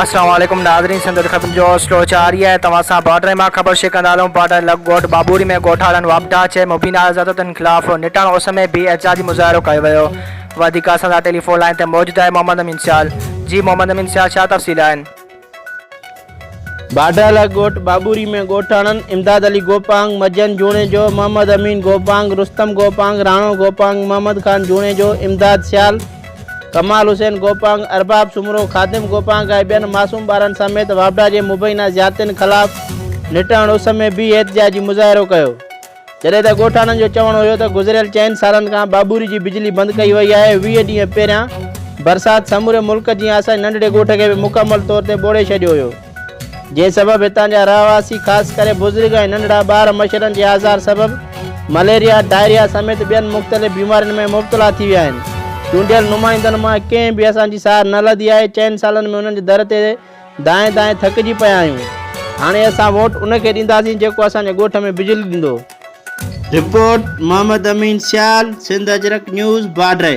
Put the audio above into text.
السلام عليڪم ناظرين سنڌ خبرن جو سلو جاري آهي توهان سان بارڊر مان خبر شيئر ڪندا هلون بارڊر لڳ ڳوٺ بابوري ۾ ڳوٺاڙن واپڊا چي مبينا آزادتن خلاف نٽان اس ۾ بي احتجاجي مظاهرو ڪيو ويو وڌيڪ اسان سان ٽيليفون لائين تي موجود آهي محمد امين سيال جي محمد امين سيال ڇا تفصيل آهن باڊالا ڳوٺ بابوري ۾ ڳوٺاڻن امداد علي گوپانگ، مجن جوڻيجو، محمد امين گوپانگ، رستم گوپانگ، راڻو گوپانگ، محمد خان جوڻيجو، امداد سيال، ڪمال حسين گوپانگ، ارباب سومرو، خادم گوپانگ ۽ ٻين معصوم ٻارن سميت واپڊا جي مبينا زيادتين خلاف نٽاڻو سمي بي احتجاجي مظاهرو ڪيو. جڏهن ته ڳوٺاڻن جو چوڻ هيو ته گذريل چئن سالن کان بابوري جي بجلي بند ڪئي وئي آهي، ويهه ڏينهن پهريان برسات سموري ملڪ جيان اسان جي ننڍڙي ڳوٺ کي به مڪمل طور تي ٻوڙي ڇڏيو هيو، جنهن سبب هتان جا رهواسي خاص ڪري بزرگ ۽ ننڍڙا ٻار مڇرن جي آزار سبب مليريا، ڊائريا سميت ٻين مختلف بيمارين ۾ مبتلا ٿي ويا آهن. چونڊيل نمائندن مان ڪنهن به اسان جي سار نه لڌي آهي، چئن سالن ۾ انهن جي در تي دانهين دانهين ٿڪجي پيا آهيون. هاڻي اسان ووٽ ان کي ڏينداسين جيڪو اسان جي ڳوٺ ۾ بجلي ڏيندو. Report, Muhammad Amin Sial, Sindh Ajrak news, Badri.